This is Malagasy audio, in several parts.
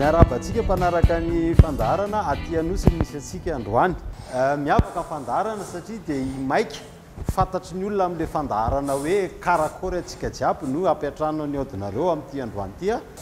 Miarahaba antsika mpanaraka ny fandaharana aty Anosy no misy antsika androany. Eh, miavaka ny fandaharana satria dia i Maika fantatry ny olona amin'ilay fandaharana hoe karakory antsika jiaby no hampiantrano an'i Audinareo amin'ity androany ity.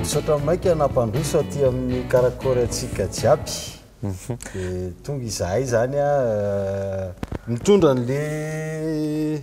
Misaotra maika nampandroso aty amin'ny Karakory antsika jiaby. Mhm. Dia tonga izahay izany a, euh, mitondra an'le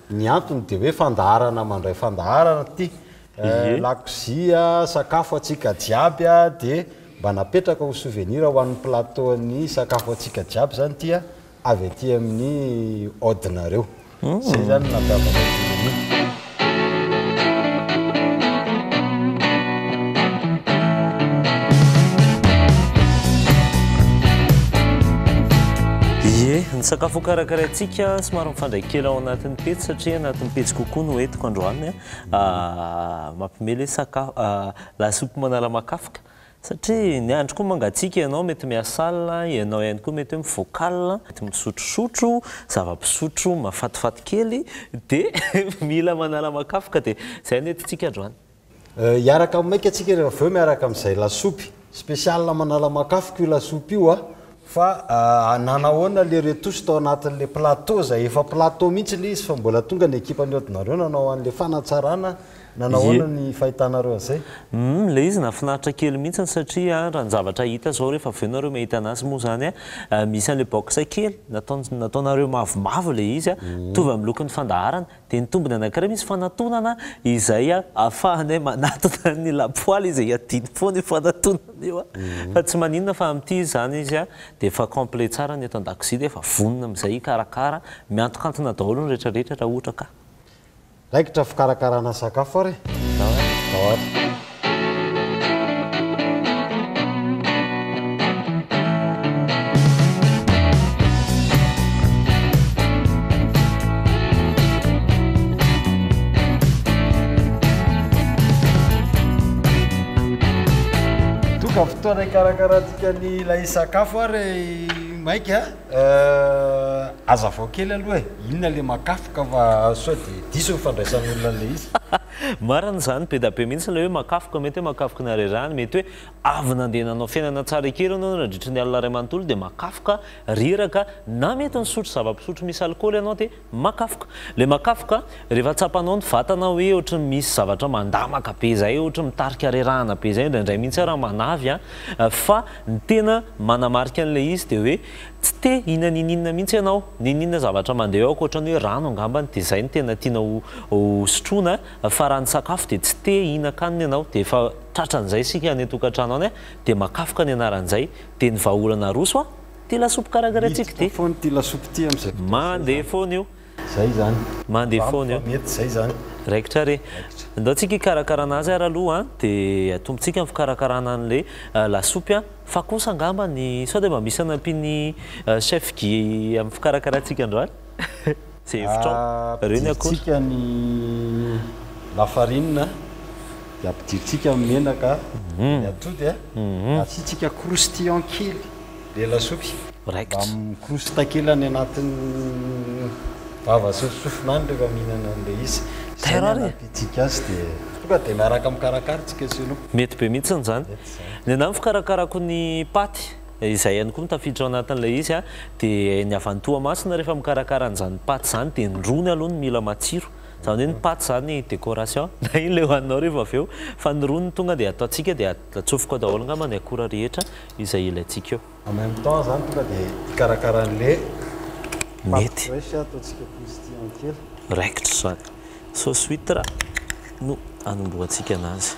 Ny antony dia hoe fandaharana mandray fandaharana ity. Ie. Lakozia, sakafo antsika jiaby dia mba napetraka ho souvenir ho an'ny plateau-n'ny sakafo antsika jiaby izany ity avy aty amin'ny Audinareo. Izay izany no nampiavaka an'i Dynamique. Ie. Ny sakafo hokarakaraintsika somary. Mifandray kely ao anatin'ny pejy satria anatin'ny pejy kokoa no entiko androany mampime le sakafo lasopy manara-makafoka satria ny andro koa mangatsiaka ianao mety miasal ianao ihany koa mety hoe mivoakal mety misotrosotro zava-pisotro mafatifaty kely dia mila manara-makafoka dia izay no entintsika androany Hiaraka maika tsika ry avy eo miaraka amin'izay lasopy. Spécial manalamakafika io lasopy io a! Fa nanahoana le retos tao anatin'le plateau zay? Efa plateau mihitsy le izy fa mbola tonga ny ekipan'i Odinareo nanao an'le fanatsarana, nanahoana ny fahitanareo an'izay? Humm, le izy nahafinaritra kely mihitsy satria ranon-javatra hita zao rehefa avy eo nareo mahita anazy moa zany misy an'le box kely nataonareo mavomavo le izy mitovy amin'ny lokon'ny fandaharana. Dia ny tombony anankiray misy fanatonana izay ahafahanay manatona ny lapoaly izay iadiany foana io fanatonana io fa tsy maninona fa amin'ity izany izy dia efa complet tsara ny eto an-dakozia dia efa vonona amin'izay hikarakara, miantokantona daholo ny rehetra rehetra raha ohatra ka. Raikitra fikarakarana sakafo ary e! Zao ary. Tonga fotoana hikarakarantsika ny ilay sakafo ary maika aza avao kely aloha e, inona le makafoka fa sao dia diso ny fandraisan'olona an'ilay izy. Marina izany, be da be mihitsy ilay hoe makafoka, mety hoe makafoka ny harerahany, mety hoe avy nandeha nanao fiainana tsara ekery ianao nandritry ny alina iray manontolo dia makafoka, reraka, na mety nisotro zava-pisotro misy alikaoly ianao dia makafoka. Ilay makafoka, rehefa tsapanao ny vatana hoe ohatran'ny misy zavatra mandamaka be izay, ohatran'ny mitarika harerahana be izay, indraindray mihitsy aza manavy an, fa ny tena manamarika an'ilay izy dia hoe, Tsy te hihina n'ininona mihitsy ianao, n'ininona zavatra mandeha eo ankoatran'ny hoe rano angambany dia izay no tena tiana ho sotroina fa raha ny sakafo dia tsy te hihinan-kanina ianao dia efa tratran'izay isika any an-tokantrano any dia makafoka ny anaran'izay dia ny vahaolana aroso an! ity lasopy karakaraintsika ity. Mandeha foana io. Zay zany. Mande foana io. Fa mety zay zany. Raikitra re. Ndao tsika hikarakarana azy ary aloha an, de atombotsika ny fikarakarana anle lasopy an, fa kosa angamba ny sao de mba misy anampian'i chef Guy amin'ny fikarakarantsika androany? Ze hevitrao. Reo ny akora. Ampidirintsika ny lafarinina, de ampidirintsika ny menaka, de ny atody an, de asiantsika croustillant kely. Dia lasopy. Mba mikorosy takila any anatin'ny vava sy ny sofina any rehefa mihinana an'ilay izy. Izay no hanampiantsika azy dia tonga dia miaraka mikarakara isika sy ianao. Mety be mihitsy izany. Ny anà ny fikarakarako ny paty, izay ihany koa no tafiditra ao anatin'ilay izy, dia ny avy any Toamasina rehefa mikarakara an'izany paty izany dia ny rony aloha no mila matsiro. Izany hoe ny paty izany décoration na inona ilay hohaninao rehefa avy eo fa ny rony tonga dia ataontsika dia atsofoko ao daholo angamba ny akora rehetra izay ilaintsika eo. En même temps zany tonga de hikarakara anle paty fresh ataontsika croustillant kely. Raikitra izany. Sauce huitre no anombohantsika anazy.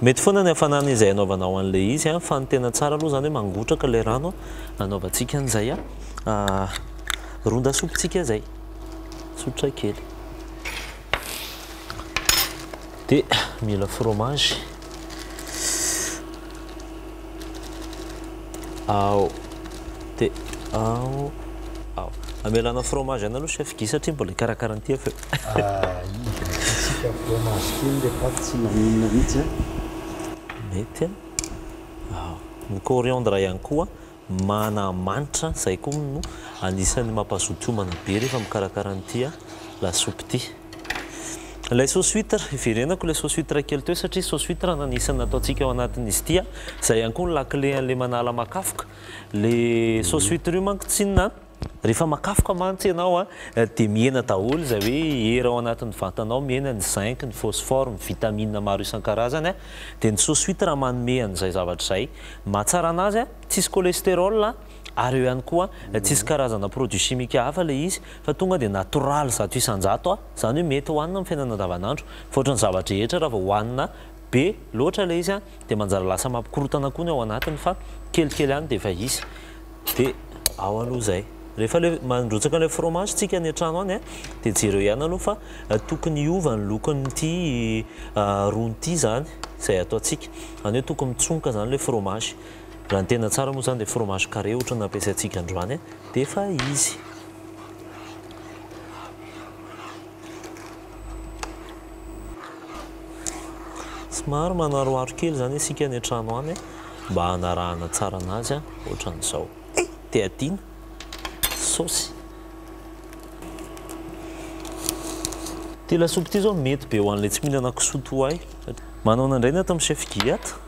Mety foana ny hafanana izay anaovanao anle izy fa ny tena tsara aloha zany hoe mangotraka ilay rano anaovantsika an'izay ron-dasopy tsika zay. Tsotra kely. de mila fromage ao de ao ao amelana fromage any aloha chef Guy satria mbola hikarakara an'ity avy eo ah tsika fromage kely le pat tsy maninona mihitsy a mety a ao ny coriandre ihany koa Mana manitra izay koa no anisan'ny mampazoto hiomana be rehefa mikarakara an'ity lasopy ity. Ilay sauce huitre, hiverenako ilay sauce huitre kely teo satria sauce huitre no anisan'ny nataontsika ao anatin'izy ity. Izay ihany koa no lakile an'ilay manala makafoka. Ilay sauce huitre io manko tsy inona an! Rehefa makafoka mantsy ianao dia mihena daholo izay hoe hery ao anatin'ny vatanao, mihena ny zinc, ny phosphore, ny vitamines maro isan-karazany, dia ny sous huitre manome an'izay zavatra izay mahatsara anazy, tsisy cholestérol ary eo ihany koa tsisy karazana produits chimiques hafa ilay izy fa tonga dia natoraly zato isan-jato, izany hoe mety hohanina amin'ny fiainana andavanandro fa ohatran'ny zava-drehetra raha vao hohanina be loatra ilay izy. dia manjary lasa mampikorontana koa ny ao anatiny fa kelikely any dia efa hisy dia ao aloha izay rehefa ilay mandrotsaka ilay fromage tsika any an-trano any dia jereo ihany aloha fa tokony hiova ny lokon'ity rony ity izany izay ataontsika izany hoe tokony mitsongoka izany ilay fromage raha ny tena tsara moa izany dia fromage carré ohatra ny nampiasaintsika androany dia efa izy Somary manaroharo kely izany isika any an-trano any mba hanarahana tsara anazy ohatran'izao. Eh! Te adino saosy. Ity lasopy ity izao mety be ho an'ilay tsy mihinana kisoa toa ahy. Manao an'indray ny ato amin'ny chef Gilliatt.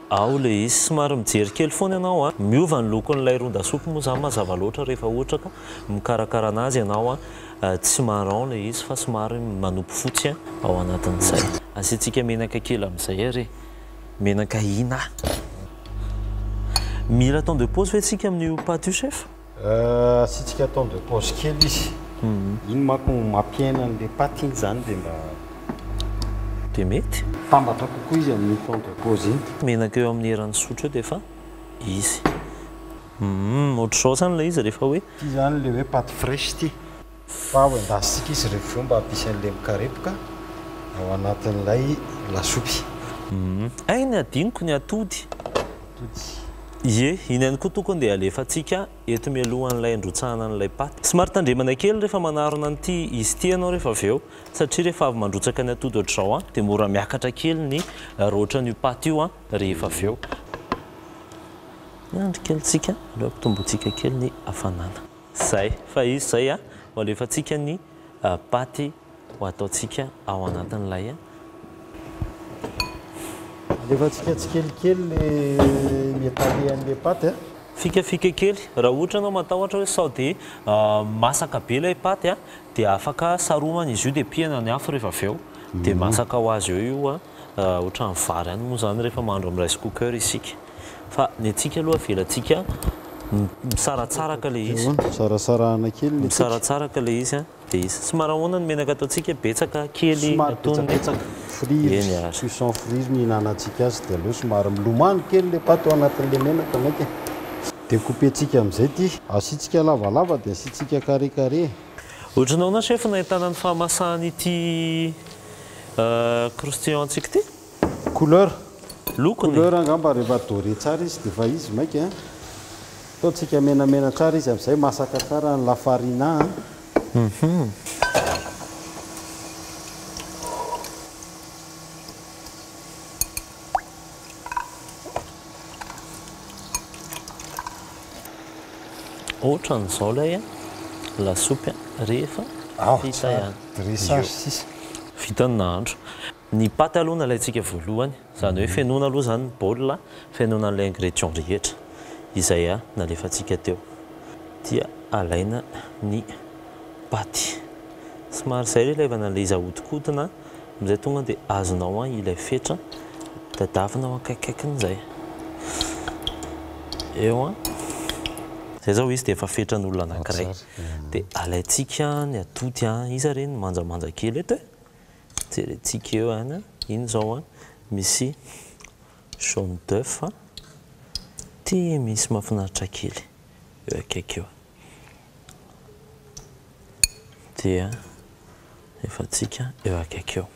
Ao leisy, somary mijery kely foana ianao a! Miova ny lokon'ilay ron-dasopy moa izany mazava loatra rehefa ohatra ka mikarakara anazy ianao a! Tsy marron ilay izy fa somary manopy fotsy ao anatin'izay. Asiantsika menaka kely amin'izay ary e! Menaka ina? Mila temps de pause ve tsika amin'io paty io chef? Asiantsika temps de pause kely izy. Iny manko no mampiaina an'ilay paty iny izany dia mba. Dia mety. Tambatra kokoa izy amin'iny temps de pause iny. Menaka eo amin'ny eran'ny sotro eo dia efa izy. Hum ohatr'izao izany ilay izy rehefa hoe. Ity izany ilay hoe paty fraiche ity. Fa hoendasintsika izy rehefa vao mba hampisy an'ny lemokarepoka ao anatin'ilay lasopy. Hay ny hadinoko ny atody. Atody. Ie, iny ihany koa tokony dia alefantsika eto mialohan'ilay handrotsahana an'ilay paty. Somary tandremana kely rehefa manarona an'ity izy ity ianao rehefa avy eo, satria rehefa avy mandrotsaka ny atody ohatr'izao an, dia mora miakatra kely ny raotran'io paty io an, rehefa avy eo. Miandry kely tsika aloha hampitombointsika kely ny hafanana. Zay, fa izy zay a ho alefantsika ny paty ho ataontsika ao anatin'ilay a. Alefantsika tsikelikely le mietalehan'le paty a. Fikafika kely, raha ohatra ianao matahotra hoe sao de masaka be ilay paty a, de afaka saromana izy io de pihana ny afo rehefa avy eo de masaka ho azy eo io a. Ohatran'ny vary ihany moa izany rehefa mahandro amin'ny rice cooker isika. Fa ny antsika aloha avelantsika misaratsaraka ilay izy. Sarasarahana kely ny antsika. Misaratsaraka ilay izy dia izy. Somary ahoana ny menaka ataontsika? Betsaka? Kely? Somary betsabetsaka. Friry, cuisson friry ny ihinanantsika azy dia aleo somary milomano kely ilay paty ao anatin'ilay menaka mainka e. Decouper-tsika amin'izay ity. Asiantsika lavalava dia asiantsika carré carré. Ohatran'ny ahoana chef no ahitana ny fahamasahan'ity? Croustillant antsika ity. Couleur. Lokony. Couleur angamba rehefa doré tsara izy dia efa izy maika an. Ataontsika menamena tsara izy amin'izay masaka tsara ny la farina an. Otran'izao lay lasopy an, rehefa vita ihany. Vita ny nahandro. Ny paty aloha no alaintsika voalohany, izany hoe fenoina aloha izany ny bol, fenoina an'ilay ingrédients rehetra izay nalefantsika teo, dia alaina ny paty. Somary izay ilay izy ahodinkodina. Amin'izay tonga dia azonao an ilay fetra tadiavina ao akaikaikiny izay. Eo an. Izay izao izy dia efa fetran'olona anankiray. Dia alaintsika ny atody an. Iza re ny manjamanja kely eto e? Jerentsika eo an. Iny izao an, misy jaune d'oeuf an. Ity misy mahafinaritra kely eo akaiky eo. dia efa tsika eo akaiky eo.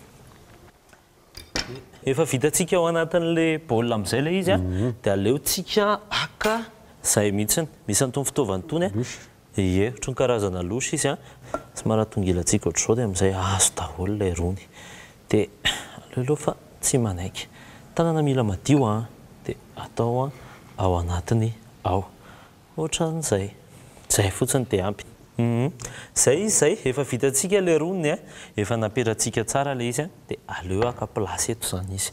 Efa vitantsika ao anatin'le bol amzay ilay izy de aleotsika haka zay mihitsiny, misy an'itony fitaovana itony, ie otriny karazana louche izy an, somary atongilantsika otrzao de amzay azo daholo ilay rony, de aleoleoa fa tsy manaiky, tanana mila madio an, de atao ao anatiny ao, Otran'izay. Zay fotsiny de ampy. Humm. Zay izy zay, efa vitantsika le roniny a, efa napetratsika tsara le izy a, de aleo haka place eto zany izy.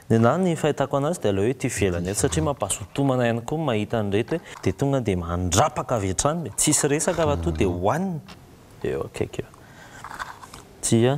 Ny anahy ny fahitako anazy de aleo eto ivelany eto satria mampahazotomana ihany koa ny mahita an'ireto e, de tonga de mandrapaka avy hatrany le, tsisy resaka raha toa de hoanina, eo akaiky eo. Dia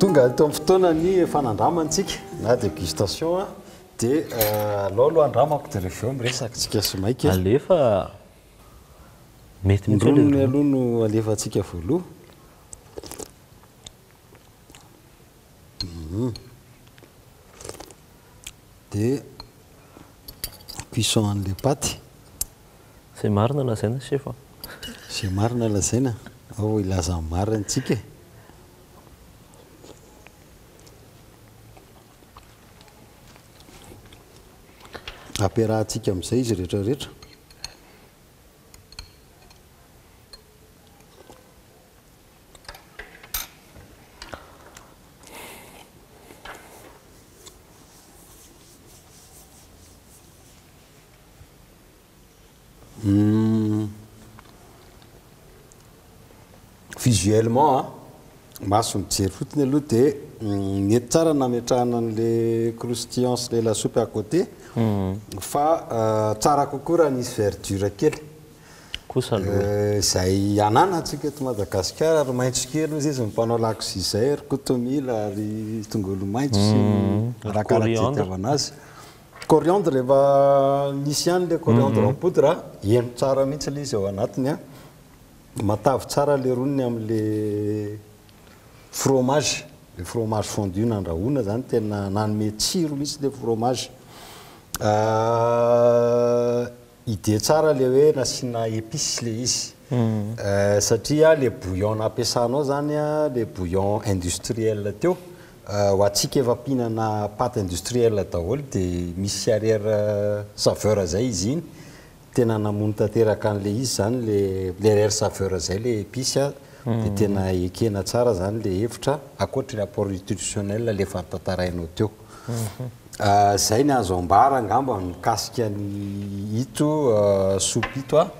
Tonga eto amin'ny fotoana ny efa nandrama antsika na dégustation a, dia alao aloha andramako dia rehefa avy eo miresaka tsika sy maika. Alefa mety mihitsy le rony. Ny rony aloha no alefantsika voaloha. Dia cuisson an'ilay paty. Zay marina lazaina chef a. Zay marina lazaina, ao hilaza ny marina tsika e. Ampiarahatsika amin'izay izy rehetra rehetra. Visuellement a, maso mijery fotsiny aloha dia mety tsara ny nametrahana an'ilay croustillant sy ilay lasopy à côté fa tsara kokoa raha nisy verdure kely. Kosa aloha e. Izay ananantsika eto Madagasikara ary maitso kely hozy izy ny mpanao lakozia izay, ry kotomila, ry tongolo maitso sy ny arakaraka izay itiavana azy. Coriandre rehefa misy ihany le coriandre en poudre a, heno tsara mihitsy le izy ao anatiny a. Matavy tsara le roniny amle fromage, le fromage fondu nandrahoina zany tena nanome tsiro mihitsy le fromage. Idée tsara le hoe nasiana épices le izy satria le bouillon nampiasanao zany le bouillon industriel teo ho antsika efa mpihinana pâte industriel daholo de misy sy arrière saveur zay izy iny tena namono tanteraka anle izy zany le le arrière saveur zay le épices de tena ekena tsara zany le hevitra ankoatry ny apport nutritionnel le efa notantarainao teo. Izay ny azo ambara angamba mikasika an'ito soupe ito a.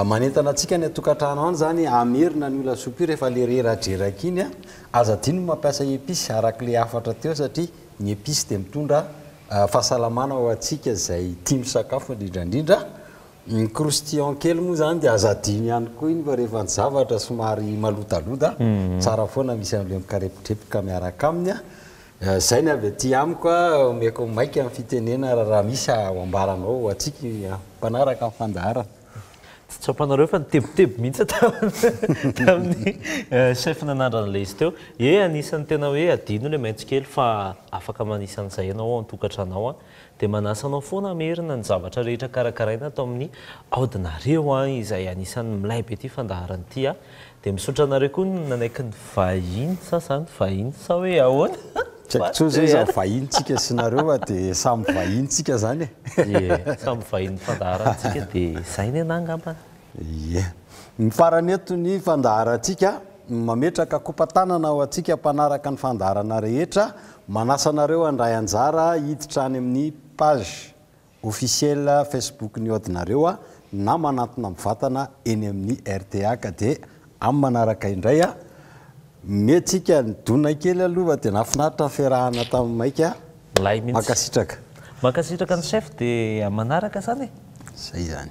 Manentana antsika any an-tokantrano any izany hamerina an'io lasopy io rehefa ilay reradreraka iny a. Aza adino ny mampiasa epices araka ilay hafatra teo satria ny epices dia mitondra fahasalamana ho antsika izay tia misakafo indrindra indrindra. Ny croustillant kely moa izany dia aza adino ihany koa iny fa rehefa ny zavatra somary malodaloda, tsara foana misy an'ilay mikarepokepoka miaraka aminy a. Zay ny avy aty amiko a, omeko maika ny fitenena ra raha misy a ho ambaranao ho antsika a mpanaraka ny fandaharana. Tsy tsapanareo fa nitebiteby mihitsy aho tamin'ny tamin'ny chef nanandrana ilay izy teo. Ie anisan'ny tena hoe adino ilay maitso kely fa afaka manisa an'izay ianao ao an-tokantranao an. Dia manasa anao foana hamerina ny zavatra rehetra karakaraina ato amin'ny aodinareo an, izay anisan'ny milay be ity fandaharana ity an. Dia misaotra anareo koa nanaiky ny vahiny, sa zany vahiny sa hoe ahoana? Tsy haiko intsony zay izany vahiny tsika sy nareo fa dia samy vahiny tsika zany e. Ie, samy vahiny fandaharantsika dia izay ny anah angambany. Ie. Ny farany eto ny fandaharantsika, mametraka kopa-tanana ho antsika mpanaraka ny fandaharana rehetra, manasa anareo handray anjara hiditra any amin'ny page officiel Facebook-n'ny Odinareo na manantona mivantana eny amin'ny rta ka dia Am manaraka indray a. Mety tsika nidona kely aloha fa dia nahafinaritra ny fiarahana tamin'ny maika. Milay mihitsy. Mankasitraka. Mankasitraka ny chef dia am manaraka zany e. Zay zany.